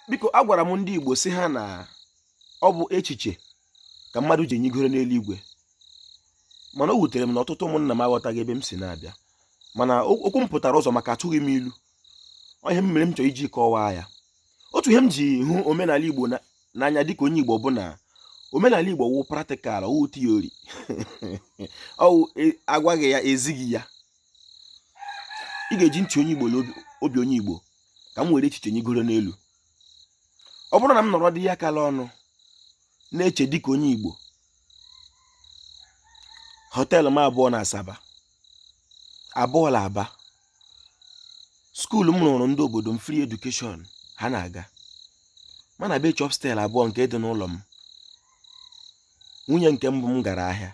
biko agwara m ndị Igbo sị ha na ọ bụ echiche ka mmadụ ji enyigoro n'eluigwe mana o wutere m na ọtụtụ ụmụnna m aghọtaghị ebe m si na-abịa mana okwu m pụtara ụzọ maka atụghị m ilu ọ ihe mere m chọrọ iji kọwaa ya otu ihe m ji hụ omenala Igbo n'anya dịka onye Igbo bụ na omenala Igbo wụ practical wụ theory ọ wụ agwaghị ya ezighị ya ị ga-eji ntị onye Igbo na obi onye Igbo ka m were echiche nyigoro n'elu ọ bụrụ na m nọrọ dị ya kala ọnụ na-eche dịka onye Igbo hotel m abụọ na Asaba abụọ la Aba skuulu m rụrụ ndị obodo m free education ha na-aga mana be chọpstel abụọ nke dị n'ụlọ m nwunye nke mbụ m gara ahịa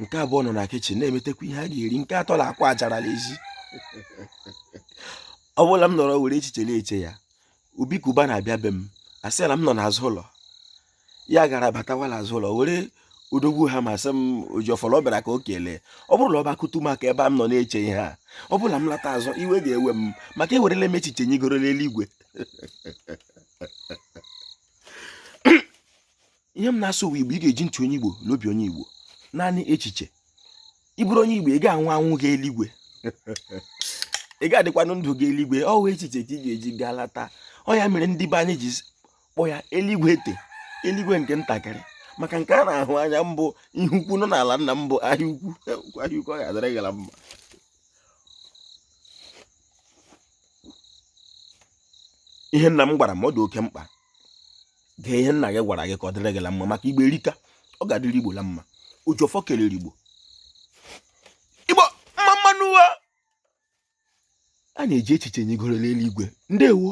nke abụọ nọ na kichin na-emetekwa ihe a ga-eri nke atọ la-akwa ajara l'ezi ọ bụla m nọrọ were echiche na-eche ya Obi Cubana bịa be m a sị la m nọ n'azụ ụlọ ya gara batawa l'azụ ụlọ were odogwu ha ma sị m Ojiọfọ la ọ bịara ka o kelee ọ bụrụ na ọ bịa kụtụ m aka ebe a m nọ na-eche ihe a ọ bụla m lata azụ iwe ga-ewe m maka ewerela m echiche nyigoro n'eluigwe ihe m na-asụ wụ Igbo ị ga-eji ntị onye Igbo na obi onye Igbo naanị echiche ị bụrụ onye Igbo ị ga-anwụ anwụ gaa eluigwe ị ga-adịkwanụ ndụ gaa eluigwe ọ wụ echiche ka ị ga-eji gaa lata ọ ya mere ndị be anyị ji kpọ ya eluigwe ete eluigwe nke ntakịrị maka nke a na-ahụ anya m bụ ihe ukwu nọ n'ala nna m bụ Ahịa Ukwu Ahịa Ukwu ọ ga-adịrị gị la mma ihe nna m gwara m ọ dị oke mkpa gee ihe nna gị gwara gị ka ọ dịrị gị la mma maka Igbo erika ọ ga-adịrị Igbo la mma Ojiọfọ kelere Igbo Igbo mma mma nụ a na-eji echiche nyigoro n'eluigwe ndewo